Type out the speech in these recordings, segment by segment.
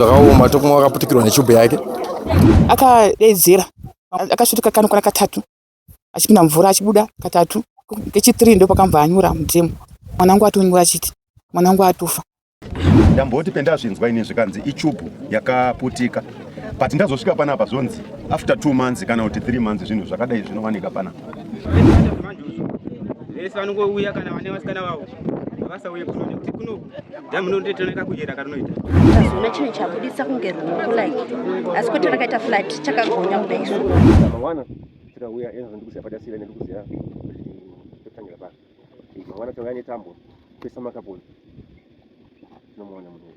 zvakaoma tokumwa akaputikirwa nechubhu yake akadedzera akasvika kano kwana katatu achipinda mvura achibuda katatu kechitiri ndo pakamva anyura mudemo mwana wangu atonyura achiti mwana wangu atofa ndamboti pendazvinzwa ini zvikanzi ichubhu yakaputika but ndazosvika panapa zvonzi after two months kana kuti three months zvinhu zvakadai zvinowanika panapa vese vanongouya kana vane vasikana vavo havasauye kuno nekuti kuno Damu ndo ndito neka kujera karinoita. Zona chine chabudisa kunge ruoko like. Asi kuti rakaita flat chakagonya kuda isu. Mawana tira uya enzo ndikuziya pada sira ndikuziya. Totangira pa. Mawana tira ne tambo. Pesa makaponi. Nomuona munhu.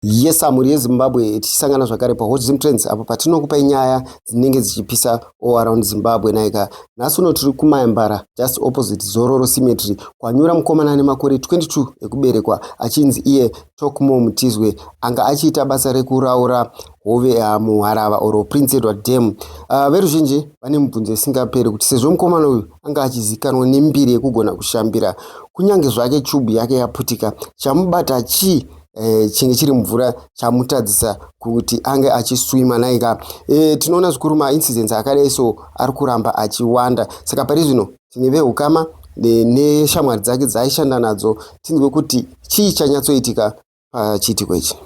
Yes, mhuri yeZimbabwe tichisangana zvakare paHot Zim Trends apo patinokupai nyaya dzinenge dzichipisa all around Zimbabwe naika. Nhasi uno tiri kuMayambara just opposite Zororo Cemetery kwanyura mukomana ane makore 22 ekuberekwa achinzi iye Talkmore Mutizwe anga achiita basa rekuraura hove yaMuharava or Prince Edward Dam. Uh, ah, veruzhinji vane mubvunzo isingaperi kuti sezvo mukomana uyu anga achizikanwa nembiri yekugona kushambira kunyange zvake chubu yake yaputika chamubata chii eh, chinge chiri mvura chamutadzisa kuti ange achiswima naika eh, tinoona zvikuru maincidents akadai so ari kuramba achiwanda saka pari zvino tine veukama neshamwari dzake dzaaishanda nadzo tinzwe kuti chii chanyatsoitika pachiitiko ichi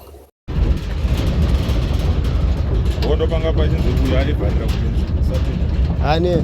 ane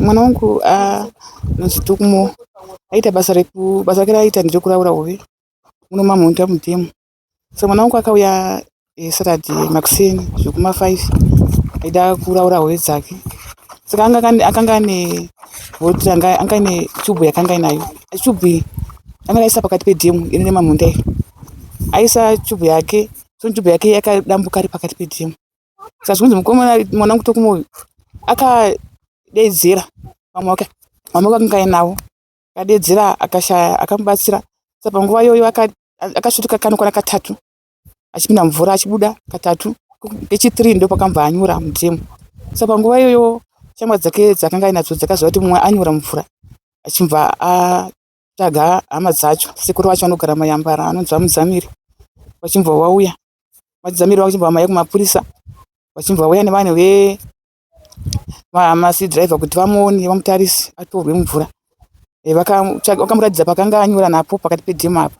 mwana wangu ah, muzitukumo aita basa reku basa rake raaita nderekuraura hove muno mamhonda mudhemu so mwana wangu akauya eh, saturday makuseni zvekuma five aida kuraura hove dzake saka anga kane- akanga ane voti anga anga ane chubhu yakanga inayo chubhu iyi anga akaisa pakati pedhemu iri nemamunda iri aisa chubhu yake so chubhu yake yakadambuka ari pakati pedhemu saka zvikunzi mukomana mwana wangu tokumoyo akadedzera vamwe wake vamwe wake akanga ainawo akadeedzera akashaya akamubatsira saka panguva iyoyo akasvika kano kwana katatu achipinda mumvura achibuda katatu kechithree ndopakamva anyura mudhemu saka panguva iyoyo shamwa dzake dzakanga ainadzo dzakaziva kuti mumwe anyura mumvura achibva atsvaga hama dzacho sekuru vacho vanogara mayambara anonzi vamudzamiri vachibva vauya vachizamiri vakuchibva vamaya kumapurisa vachibva vauya nevanhu ve masi driver kuti vamuone vamutarise atorwe mumvura eh, vakamuratidza pakanga anyura napo pakati pedhemu apo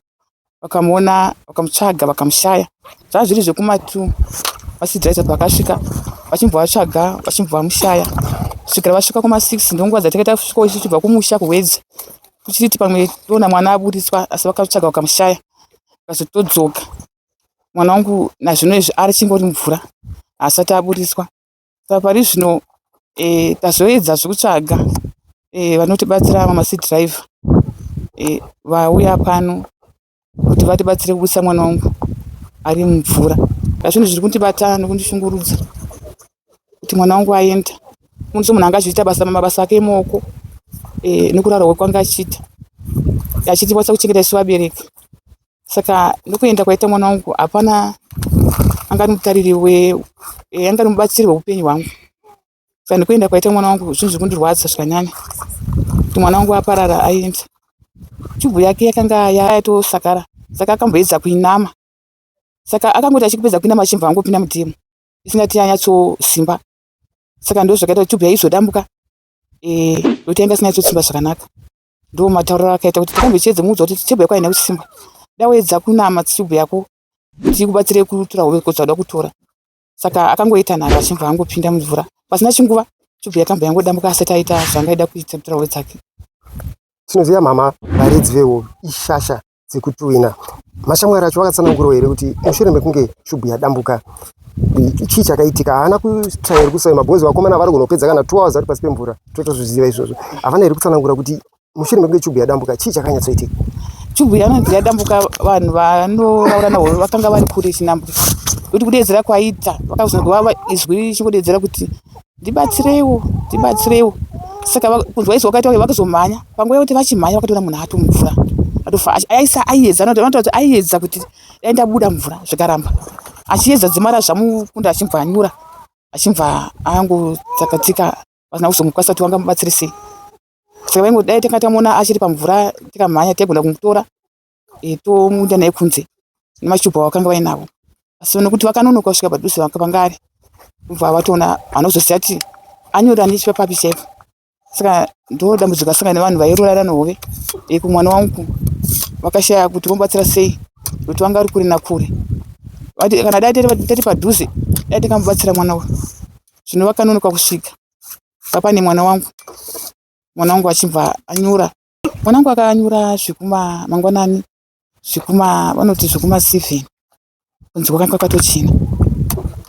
vakamuona vakamutsvaga vakamushaya zvaa zviri zvekumatu masi driver pakasvika vachimbovasvaga vachimbovamushaya kusvikira vasvika kuma six ndonguva dzatakaita kusvika ichibva kumusha kuhwedza kuchiti pamwe toona mwana aburitswa asi vakatsvaga vakamushaya vakazotodzoka mwana wangu nazvino izvi ari chingori mvura haasati aburitswa Saka pari zvino eh, tazoedza zvekutsvaga eh, vanotibatsira ava masi driver eh, vauya pano kuti vatibatsire kubusa mwana wangu ari mumvura. Zvinhu zviri kundibata nekundishungurudza kuti mwana wangu aenda munhu munhu anga achiita basa mabasa ake emaoko eh, nekurara kwekwanga achiita achiti kwasa kuchengeta isu vabereki saka ndokuenda kwaita mwana wangu hapana angari mutariri eh, angari mubatsiri weupenyu hwangu saka nekuenda kwaita mwana wangu zvinhu zviri kundirwadza zvakanyanya kuti mwana wangu aparara aenda chubhu yake yakanga yatosakara saka akamboedza kuinama saka akangoti achikupedza kuinama achimva angopinda mudemo isingati yanyatsosimba saka ndo zvakaita kuti chubhu yaizodambuka eh, ndokuti yanga isinganyatsosimba zvakanaka Ndo matauriro akaita kuti tirambe tichiedza muudza kuti tibhuya kwaina kuchisimba. Dawaedza kunama tichibhuya ko tikubatsire kutura hove ko zvada kutora. Saka akangoita nharo achimva angopinda mumvura. Pasina chinguva chibhuya kamba yangodambuka asati aita zvangaida kuita mutura hove dzake. Tinoziva mama varidzi vehove ishasha dzekutuwina. Mashamwari acho vakatsanangurawo here kuti mushure mekunge shubhu yadambuka chii chakaitika haana kutrair kusai mabhozi vakomana vari kunopedza kana two hours vari pasi pemvura totozviziva izvozvo havana here kutsanangura kuti mushure mekunge chubhu yadambuka chii chakanyatsoitika chubhu yanonzi yadambuka vanhu vanoraura navo vakanga vari kure chinambuka kuti kudedzera kwaita vakazonzwa izwi richingodedzera kuti Ndibatsireiwo, ndibatsireiwo. Saka kunzwa izwi wakaita uye vakazomhanya. Panguva yekuti vachimhanya vakatoona munhu ato mumvura. Atofa aisa aiedza anotaura kuti aiedza kuti dai ndabuda mvura zvikaramba. Achiedza dzimara zvamukunda achimva anyura. Achimva ango tsakatika vasina kuzomukwanisa kuti vangamubatsire sei. Saka vaingo dai tanga tamuona achiri pamvura tikamhanya taigona kumutora. e, tomuita naye kunze nemachubwa vakanga vainavo asi vane kuti vakanonoka kusvika padhuze vakapanga ari kubva vatoona vanozoziva kuti anyora nechipa papi chaipo saka ndo dambudziko asanga nevanhu vairurara nohove e, kumwana wangu vakashaya kuti vomubatsira sei kuti vanga vari kure nakure kana dai tati padhuze dai takamubatsira mwana uyu zvino vakanonoka kusvika vapane mwana wangu mwana wangu achibva anyura Mwanangu akanyura zvikuma mangwanani zvikuma vanoti zvikuma seven kunzi kwakanga kwakatochena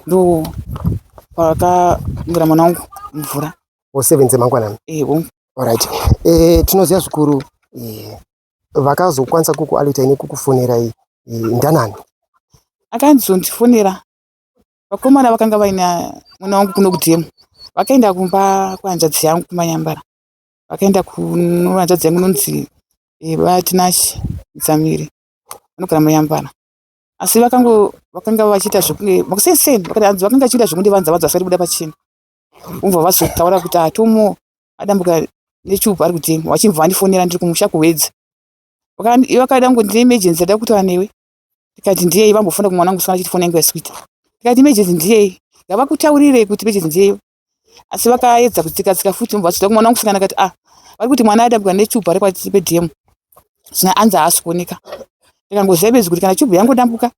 ndo pakamwira mwana wangu mvura o seven dzemangwanani ewo Alright. E, tinoziva zvikuru e, vakazokwanisa kukualita ine kukufonerai e, ndanani akanzondifonera vakomana vakanga vaina mwana wangu kuno kudhemu vakaenda kumba kwehanzvadzi yangu kumanyambara vakaenda kunohanzvadzi yangu inonzi eh, vatinashe dzamiri vanogara muyambana asi vakango vakanga vachiita zvekunge makusenseni vakati hanzi vakanga vachiita zvekunge vanza vanza vasati kuda pachena umva vazotaura kuti atomo adambuka nechupa ari kutema vachimva vandifonera ndiri kumusha kuhwedza vakaida kungo ndine emergency ada kutaura newe ndikati ndiyei vambofona kumwana wangu swana chiti fona yangu yaswita ndikati emergency ndiyei ngavakutaurire kuti emergency ndiyeyo asi vakaedza kutsika tsika futi mva vachida kumwana kusikana kati ah vari kuti mwana aitambwa nechubu ari kwati pedm zvino anzi haasi kuoneka ndikangoziva bedzi kuti kana chubu yangodambuka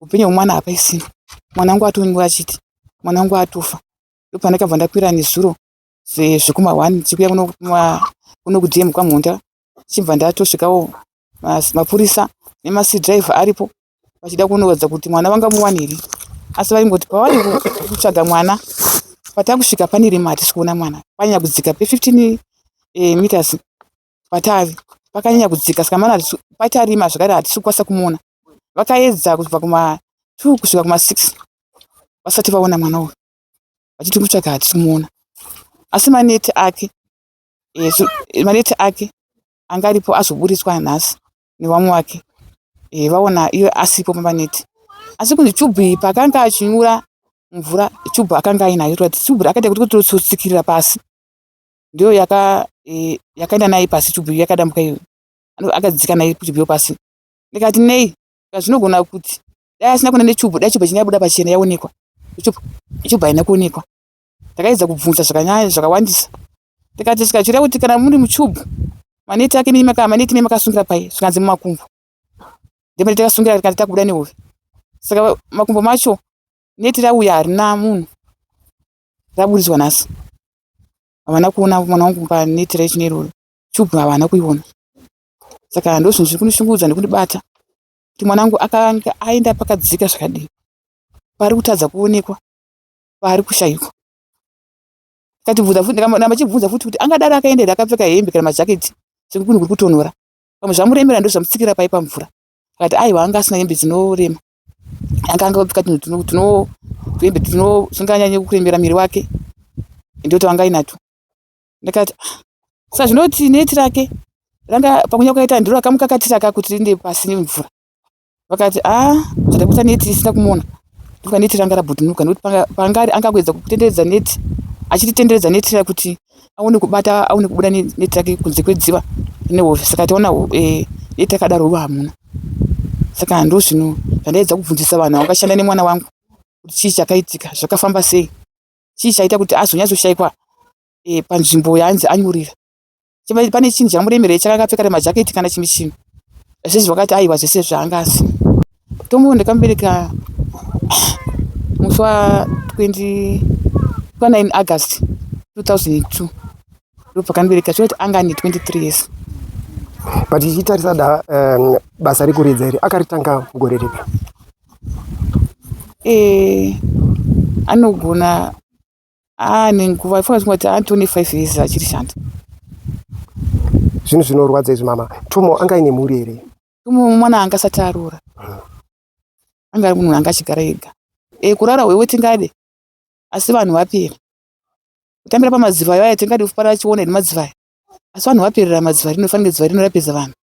upenyu hwemwana hapaisina mwana wangu atonwa achiti mwana wangu atofa ndopandakabva ndakwira nezuro zvekuma one chikuya kuno kudm kwamhonda ndichibva ndatosvikawo mapurisa nemasi driver aripo vachida kunoratidza kuti mwana vanga muwani here asi vaingoti pavari kutsvaga mwana patakusvika pane rima hatisi kuona mwana panyanya kudzika pe 15 eh, meters patavi pakanyanya kudzika saka mwana patarima zvakare hatisi kukwanisa kumuona vakaedza kubva kuma 2 kusvika kuma 6 vasati vaona mwana uyu vachiti kutsvaga hatisi kumuona asi maneti ake malate ake anga aripo azoburitswa nhasi nevamwe wake eh, vaona iye asipo pamaneti asi kunzi chubhu iyi paakanga achinyura mvura chubhu akanga ainayo toati chubhu akaita kuti kutotsikirira pasi ndiyo yaka eh, yakaenda naye pasi chubhu iyo yakadambuka iyo akadzika naye chubhu iyo pasi ndikati nei zvinogona kuti dai asina kuenda nechubhu dai chubhu chinyabuda pachena yaonekwa chubhu haina kuonekwa Ndakaedza kubvunza zvakanyaya zvakawandisa ndikati zvikachura kuti kana muri muchubhu maneti ake nemi maneti nemi makasungira pai zvikanzi mumakumbo ndimene takasungira rikati takubuda nehove saka makumbo macho neti rauya harina munhu raburitswa nhasi havana kuona mwana wangu paneti raichine iroro chubhu havana kuiona saka ndozvinhu zviri kundishungurudza nekundibata kuti mwana wangu akanga aenda pakadzika zvakadii pari kutadza kuonekwa paari kushaikwa akatibvunza futi ndikaramba chibvunza futi kuti angadaro akaenda here akapfeka hembe kana majaketi sekuti kunhu kuri kutonhora pamwe zvamuremera ndo zvamutsikira pai pamvura akati aiwa anga asina hembe dzinorema anga anga apfeka tunhu tuno hembe tuno zvinganyanye kuremera miri wake ende kuti vanga inato ndakati ah, sa zvinoti neti rake ranga pamwe nyakuita ndiro akamukakatira ka kuti rinde pasi nemvura vakati aa ah, zvatakuita neti isina kumuona ndokuti neti ranga rabhutunuka nekuti pangari anga kuedza kutenderedza neti achititenderedza neti ra kuti aone kubata aone kubuda neti rake kunze kwedziva nehove saka taona eh, neti akadaro ruva hamuna saka ndo zvino zvandaedza kubvunzisa vanhu vakashanda nemwana wangu kuti chii chakaitika zvakafamba sei chii chaita kuti azonyatsoshayikwa e, panzvimbo yaanzi anyorera pane chinhu chamuremerei chakakapfeka remajaketi kana chimwe chinhu zvese zvakati aiwa zvese zvaanga asi tomuwo ndakamubereka musi wa 20 pa9 august 2002 ndopakandibereka zvinoti anga ane 23 years but ichitarisa da um, basa rekuridza iri akaritanga mugore ripi e, anogona haa nenguva ifunga zvingoti haa 25 years achiri shanda zvinhu zvinorwadza izvi mama tumo anga ine mhuri here tumo mwana anga asati aroora hmm. anga ari munhu anga achigara ega e, kurara hwewe tingade asi vanhu vapera kutambira pamadziva ayo aya tingade kufanira chiona here madziva aya asi vanhu vaperera madziva rino fanira dziva rino rapedza vanhu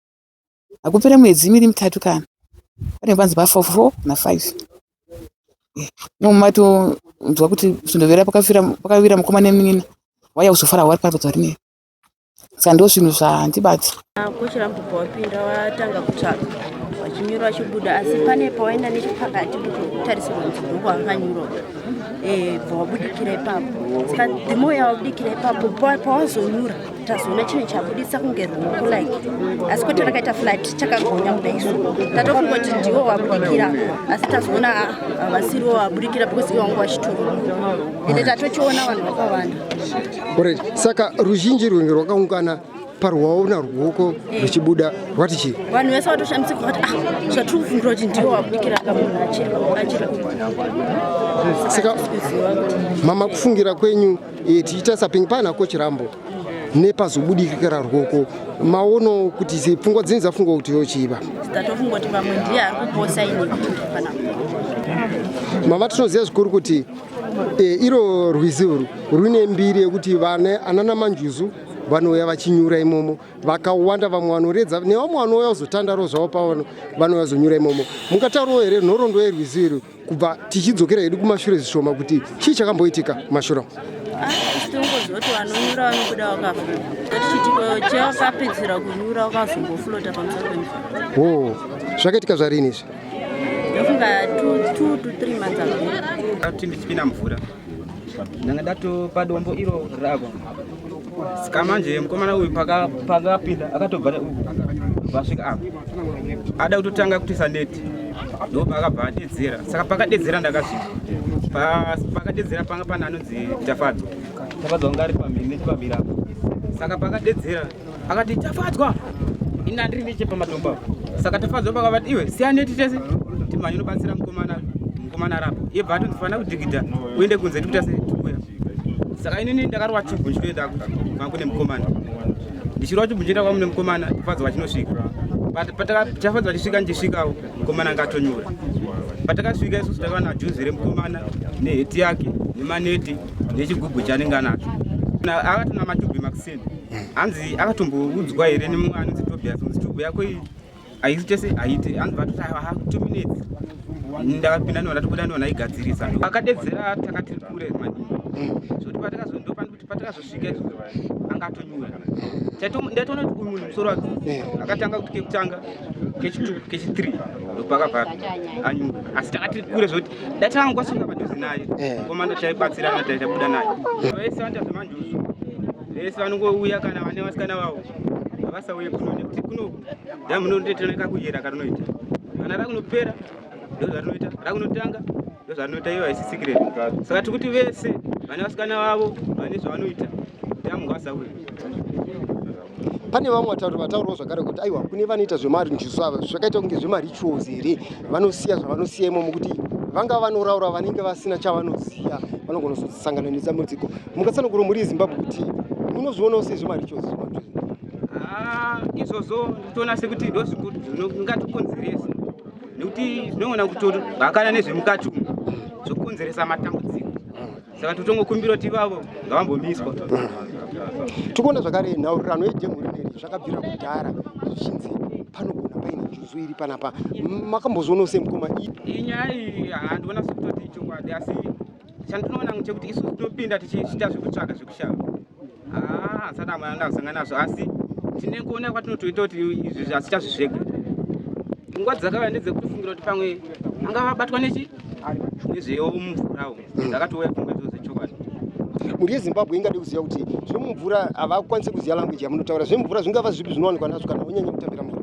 hakupere mwedzi miri mitatu kana pane panzi pa four four na five imomo matonzwa kuti zvindovera pakavira mukoma nemunina waya kuzofara wari pato dzarine saka ndo zvinhu zvandibati kuchirambubva wapinda watanga kutsvaga wachinyura wachibuda asi pane pawaenda nechepakati kutarisirwa nzibhuku akanyurwa eh, bva wabudikira ipapo saka dhimo yawabudikira ipapo pawazonyura tazoona chinhu chabudisa kunge ruoko like asi kwete rakaita flat chakagonya kuda isu tatofunga kuti ndiwo waburikira asi tazoona havasiriwo waburikira because iwangu wachitoro ende tatochiona vanhu vakawanda orit saka ruzhinji rwunge rwakaungana parwaona ruoko ruchibuda rwati chii vanhu vese vatoshamisika vati ah zvatiri kufungira kuti ndiwo wabudikira kamunhu achiri saka mama kufungira kwenyu e, tichiita sapingi pana coach rambo nepazobudikira rwoko maono kuti pfungwa dzini dzafungwa kuti yochiva tatofunga kuti pamwe ndiye ari kuposa ini mama tinoziva zvikuru kuti e, iro rwizi urwu rwune mbiri yekuti vane anana manjuzu vanouya vachinyura imomo vakawanda vamwe vanoredza nevamwe vanouya kuzotandaro zvavo pavano vanouya kuzonyura imomo mungataurawo here nhoroondo yerwizi irwu kubva tichidzokera hedu kumashure zvishoma kuti chii chakamboitika mashura tongozoti vanonyura vanobuda vakafura chitiko chevakapedzisira kunyura vakazomboflota pamusoro pemvura o zvakaitika zvarini izvi ndofunga two to three months ago ati ndichipinda mvura ndanga ndatopa dombo iro ravo ska manje mukomana uyu pakapinda akatobva vasvika apa ada kutotanga kutisa neti ndoba akabva adedzera saka pakadedzera ndakasvika pakadedzera panga pana anonzi tafadzo tafadzo anga ari pamhiri nechipamhiri apo saka pakadedzera akati tafadzwa ini ndandiri neche pamatombo apo saka tafadzwa pakavati iwe siyaneti tese timhanye unobatsira mukomana mukomana arapo iye bva atondifanira kudhigidha uende kunze tikuita se tikuya saka inini ndakarwa chibhu ndichitoenda kuvanga kune mukomana ndichirwa chibhu ndichienda kwamune mukomana tafadzwa vachinosvika tafadzwa vachisvika ndichisvikawo mukomana ngatonyura patakasvika isusu takava najuzi remukomana neheti yake nemaneti nechigubhu chanenge anacho akatona matubhi makuseni hanzi akatomboudzwa here nemumwe anonzi tobias kunzi tubu yako iyi haisi chese haiti hanzi vatoti haa two minutes ndakapinda ndiona tobuda ndiona igadzirisa akadedzera takati kure maningi zvekuti patakazondopani kuti patakazosvika anga atonyura ndatoona kuti uyu munhu musoro wake eh. akatanga kuti kekutanga kechitwu kechithree ndopakabva anyura asi takati kure zvekuti datangu kwasunga padhuze naye eh. komanda taibatsirana taitabuda naye vaisanda zvemanjuzu vese vanongouya kana vane vasikana vavo havasauye kuno nekuti kuno damunondetirana kakuyera karinoita kana rakunopera ndozvarinoita rakunotanga ndozvarinoita iyo haisi secret saka tikuti vese vane vasikana vavo vane zvavanoita damu ngavasauye pane vamwe vatauri vataurawo zvakare kuti aiwa kune vanoita zvemari njusu ava zvakaita kunge zvemarituals here vanosiya zvavanosiya imomo kuti vanga vanoraura vanenge vasina chavanoziva vanogonozosangananisa mudziko Mukatsanangura muri Zimbabwe kuti munozvionawo sei zvemarichos ah, izvozvo nditoona sekuti ndozvikuti zvingatikonzeresa nekuti zvinogona kutohakana nezvemukati umu zvokonzeresa matambudziko saka totongokumbira kuti ivavo ngavambomiswa tikuona zvakare nhaurirano yejemhurineri zvakabvira kudhara zvichinzi panogona paine juzu iri panapa makambozvionawo semukoma iyi nyaya iyi handiona sekutoti ichokwadi asi Chandinoona ngechekuti isu tinopinda tichiita zvekutsvaga zvekushava. Ah, hasati amwe anga kusangana nazvo asi tine kuona kwatinotoita kuti izvi zvasichazvi zvega. Nguva dzakauya ndedzekutofungira kuti pamwe anga vabatwa nechi nezveyo mvura umu. Ndakatouya pfungwa idzodzo dzechokwadi. mhuri yezimbabwe ingade kuziva kuti zvemumvura havakwanise kuziva language yamunotaura zvemumvura zvingava zvipi zvinowanikwa nazvo kana wonyanya kutambira mvura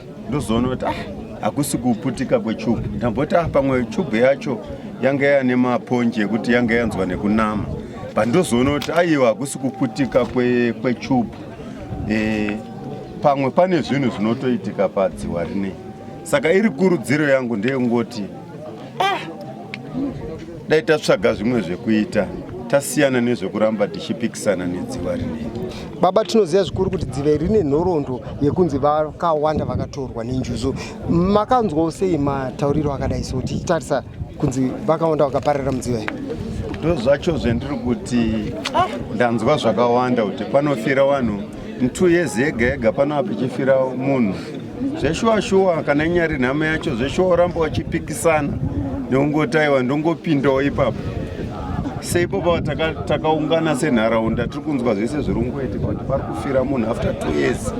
ndozoona kuti ah hakusi kuputika kwechubhu ndamboti ah pamwe chubhu yacho yanga yane maponje ekuti yanga yanzwa nekunama but ndozoona kuti aiwa hakusi kuputika kwechubhu kwe e, pamwe pane zvinhu zvinotoitika padziwa rinei saka iri kurudziro yangu ndeyekungoti ah! dai tatsvaga zvimwe zvekuita tasiyana nezvekuramba tichipikisana nedziva rinei baba tinoziva zvikuru kuti dzive rine nhoroondo yekunzi vakawanda vakatorwa nenjuzu makanzwawo sei matauriro akadai so tichitarisa kunzi vakawanda vakaparira mudziva iri ndozvacho zvendiri kuti ndanzwa zvakawanda kuti panofira vanhu mtu years yega yega pano apa ichifira munhu zveshuwa shuwa kana inyari nhamo yacho zveshuwa oramba wachipikisana neungotaiwa ndongopindawo ipapo seipopa takaungana taka senharaunda tiri kunzwa zvese zviri ungoitika kuti pari kufira munhu after two years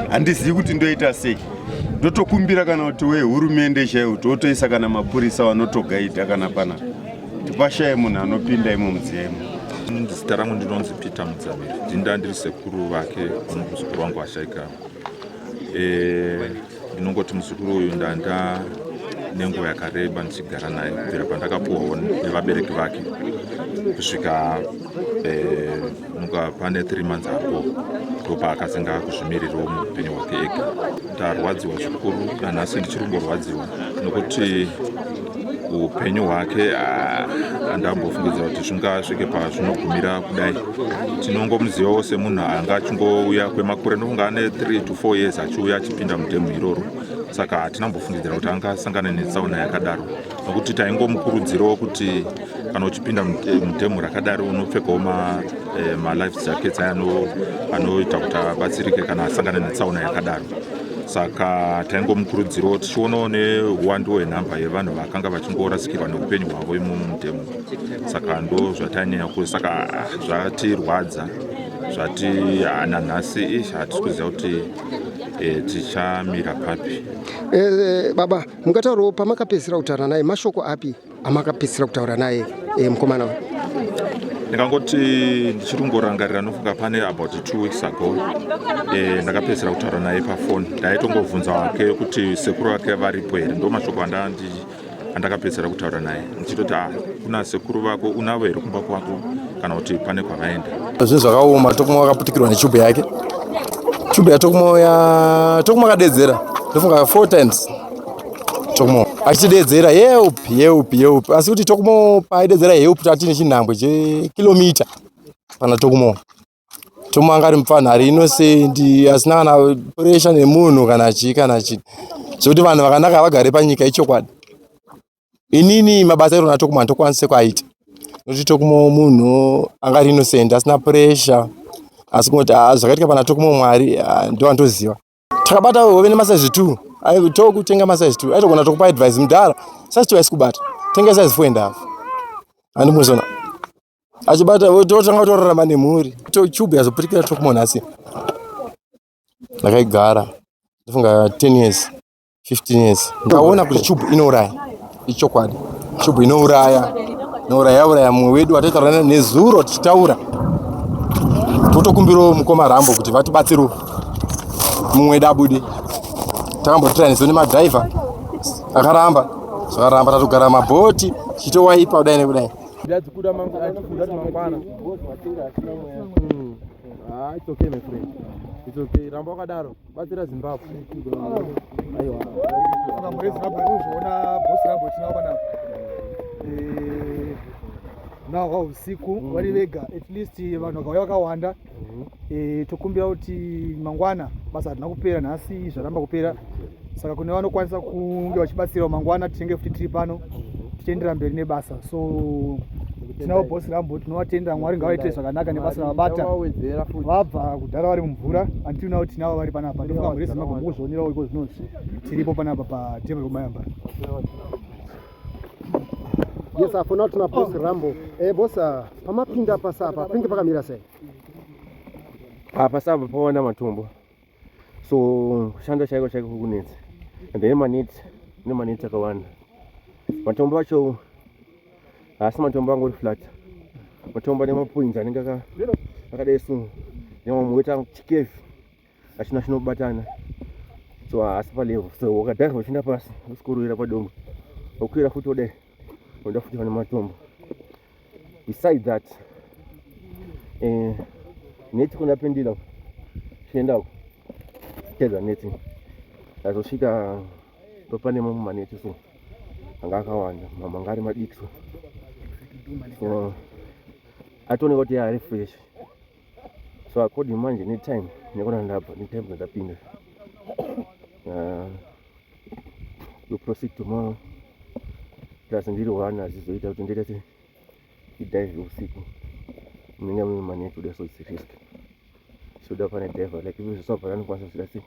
handizivi kuti ndoita sei ndotokumbira kana kuti wehurumende chaiwo totoisa kana mapurisa vanotogaidha kana panapa tipashaye munhu anopinda imo mudziyemo zita rangu ndinonzi peter mudzamiri ndinda ndiri sekuru vake vanokuzukuru wangu ashaika eh, ndinongoti muzukuru uyu ndanda nenguva yakareba ndichigara naye kubvira pandakapuwawo nevabereki vake kusvika muka pane three months apo ndopa akasenga akuzvimirirawo muupenyu hwake ega ndarwadziwa zvikuru nanhasi ndichiri kumborwadziwa nokuti upenyu hwake handambofungidza ah, kuti zvingasvike pazvinogumira kudai tinongomuzivawo semunhu anga achingouya kwemakure ndofunga ane 3 to 4 years achiuya achipinda mudhemu iroro saka hatina mbofungidzira kuti anga asangane netsaona yakadaro nokuti taingomukurudzirawo kuti kana uchipinda eh, mudhemu rakadaro unopfekawo eh, malife jackets aya anoita kuti abatsirike kana asangana netsaona yakadaro saka taingomukurudzirawo tichionawo neuwandu hwenhamba yevanhu vakanga vachingorasikirwa neupenyu hwavo imomo mudhemu saka ndo zvatainyanya ku saka ah, zvatirwadza zvati ah, nanhasi ish hatisi kuziva kuti eh, tichamira papi baba mukataurawo pamakapedzisira kutaura naye mashoko api amakapedzisira kutaura naye eh, mukomana uyu ndikangoti ndichiri kungorangarira nofunga pane about two weeks ago eh, ndakapedzisira kutaura naye pafoni ndaitongovhunza wake kuti sekuru vake varipo here ndo mashoko andakapedzisira kutaura naye muchitoti ah, kuna sekuru vako unavo here kumba kwako kana kuti pane kwavaenda zvinhu zvakaoma tokuma wakaputikirwa nechubhu yake chubhu yatokuma ya tokuma akadedzera ndofunga four times tokuma achitidedzera help help help asi kuti tokuma paaidedzera help tatine chinhambwe chekilomita pana tokuma Tom anga ari mupfanhu ari inosendi asina kana puresha nemunhu kana chii kana chii zvekuti vanhu vakanaka vagare panyika ichokwadi inini mabasa airo na tokuma ndokwanise kwaita nokuti tokuma munhu anga ari inosendi asina puresha asi kungoti ah, zvakaitika pana tokuma mwari ah, ndo andoziva takabata hove nemasize two aitoku kutenga masize two aitogona tokupa advice mudhara size two aisikubata tenga size four and half andimuzona achibata totanga kutorarama nemhuri tocube yazopurikira tokumonhasi ndakaigara ndofunga ten years 15 years ndaona kuti chubu inouraya ichokwadi chubu inouraya inouraya yauraya mumwe wedu wataitaurana nezuro tichitaura totokumbirawo mukoma rambo kuti vatibatsirewo mumwe wedu abude takambotiraniso nemadhaiva akaramba zvakaramba tatogara mabhoti chitowaipa kudai nekudai ndadzikuda mangu achikuda kuti mangwana hmm. ah, it's okay my friend it's okay ramba wakadaro batsira zimbabwe aiwa saka muri zimbabwe kuzviona bosi rambo tinavo panapa eh, now wa usiku mm. vari vega at least vanhu vakauya vakawanda mm. eh, tokumbira kuti mangwana basa harina kupera nhasi zvaramba kupera saka kune vanokwanisa kunge vachibatsirawo mangwana tichenge futi tiri pano mm. tichiendera mberi nebasa so tinawo boss rambo tinowatenda mwari ngawaite zvakanaka nebasa ravabata vabva kudhara vari mumvura until now tinavo vari panapa ndofunga mhuri yezimbabwe mukuzvionerawo iko zvinonzi tiripo panapa patable kumayambara yes apo now tina boss oh. rambo eh boss ah, pamapinda pasapa penge pakamira sei apa ah, sapa paona matumbo so kushanda chaiko chaiko kukunetsa and then maneti ine maneti akawanda matombo acho haasi matombo angori flat matombo ane mapoinzi anenge akadai so nemamwe woita chikevi achina chinobatana so haasi palevo so wakadhaiva uchienda pasi usikuruvira padombo wokwira futi wodai unoda futi vane matombo beside that eh, neti kona pendira chienda uko tedza neti azosvika topane mamwe maneti so anga akawanda mamwe anga ari madiki so so atooneka kuti yaari fresh so according manje netime nekona ndabva netime ndakapinda ah, we proceed tomorrow plus ndiri one azizoita kuti ndoita se idive usiku munenge mune mane kuda so it's risk soda pane diver like ivo zvesava pane anokwanisa kuita se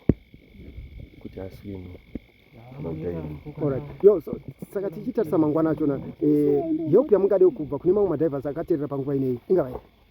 kuti aswime saka tichitarisa mangwana achona eh, help yamungade kubva kune mamwe madivers akaterera panguva ineyi ingavai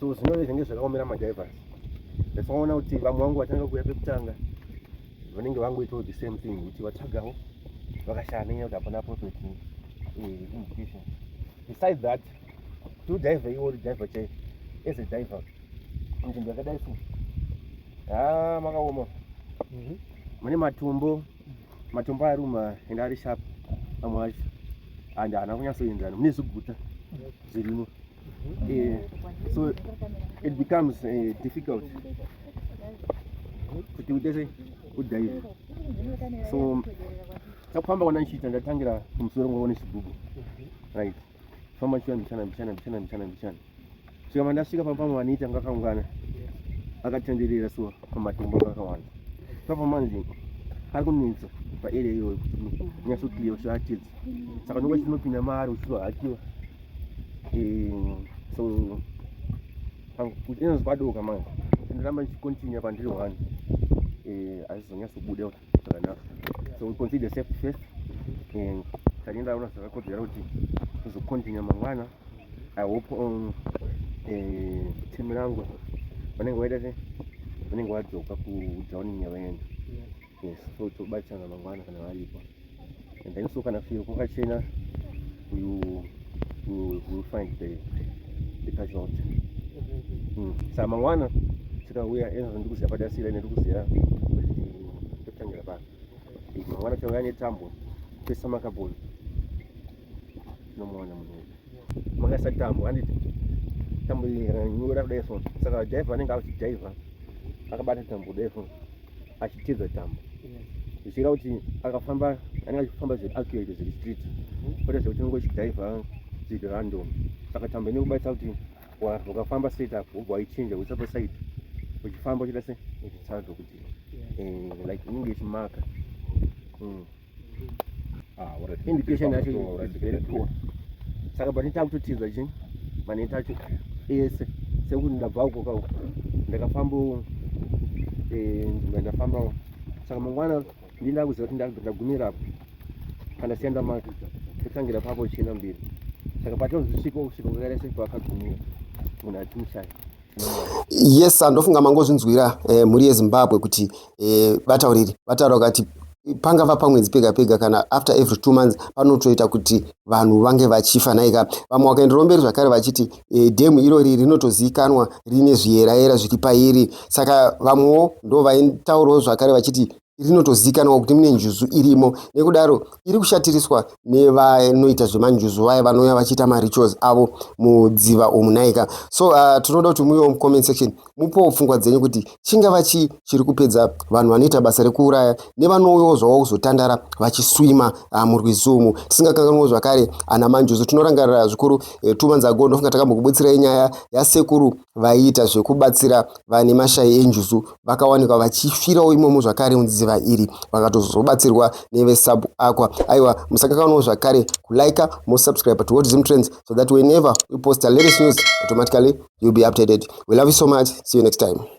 so zvinove zvinenge zvakaomera madrivers that's why ona kuti vamwe vangu vatanga kuuya pekutanga vanenge vangoitawo the same thing kuti vatsvagawo vakashaya nenyaya kuti hapana profit eh, indication besides that to diver iwo uri diver chaivo as a diver nzvimbo yakadai so ha makaoma mhm. mune matumbo matumbo aruma ende ari sharp amwe acho and haana kunyatsoenzana mune zviguta zvirimo uh, so it becomes uh, difficult kuti utese kudhaiva so takufamba kwana ndichiita ndatangira kumusoro ngova nechigubhu right famba chiya mbichana mbichana mbichana mbichana mbichana svika mandasvika pamwe vanoita ngakaungana akatenderera so pamatombo akakawanda papa manzi ari kunetsa paarea iyoyo nyasokliya ushaatidza saka ndokuti tinopinda maari uchizohakiwa mm, so kuchinonzi kwadoka manje ndoramba ndichicontinue pandiri one eh, azvizonyatsobuda zvakanaka so we consider safe first and tandindaona zvakakodzera kuti tizocontinue mangwana i hope um, eh, team rangu vanenge vaita se vanenge vadzoka kudhawuningi yavaenda yes so tobatsirana mangwana kana varipo and then so kana firo kwakachena you will, will find the, the casualty mm. saa mangwana tikauya ezvo ndikuziva padasira ine ndikuziva kuti totangira pano mangwana tikauya netambo pesa makaboni Unomuona munhu uyu. Makaisa tambo handiti? Tambo iyi ikanyura kudai so. Saka driver anenge akuti driver akabata tambo kudai so achitiza tambo. Zvichira kuti akafamba anenge achifamba zviri accurate zviri street. Kwete zvekuti unenge uchidriver zviri random. Saka tambo ine kubaisa kuti wakafamba straight up wobva waichinja kuisa paside uchifamba uchida se uchitsanzwa kuti eh, like inenge ichimaka. Mm. Ah, indication yacho is very poor saka but takutotiza chi maneta acho ese sekuti ndabva uko ka ndakafambawo eh, nzvimbo ndafambawo saka mangwana ndi ndakuziva kuti ndagumira apo kana sienda maka totangira papo china mbiri saka patinozosvika kusvika kwakaita sekuti vakagumira munhu achimushaya yes andofunga mangozvinzwira eh, mhuri yezimbabwe kuti eh, vatauriri vataura vakati pangava pamwedzi pega pega kana after every two months panotoita kuti vanhu vange vachifa naika vamwe wakaenderwa mberi zvakare vachiti e, dhemu irori rinotozivikanwa rine zviyerayera zviri pairi saka vamwewo ndo vaitaurawo zvakare vachiti rinotozikanwa kuti mune njuzu irimo nekudaro iri kushatiriswa nevanoita zvemanjuzu vaya vanouya vachiita marituals avo mudziva omunaika so uh, tinoda kuti muiwo mucomment section mupowo pfungwa dzenyu kuti chingava chii chiri kupedza vanhu vanoita basa rekuuraya nevanouyawo zvavo kuzotandara vachiswima uh, murwizumu tisingakanganwo zvakare ana manjuzu tinorangarira zvikuru eh, two months ago ndofunga takambokubutsirai nyaya yasekuru vaiita zvekubatsira vane mashayi enjuzu vakawanikwa vachifirawo imomo zvakare mudziva iri vakatozobatsirwa nevesub aqua aiwa musakakanawo zvakare kulike mosubscribe to watch zim trends so that whenever we post a latest news automatically you'll be updated we love you so much see you next time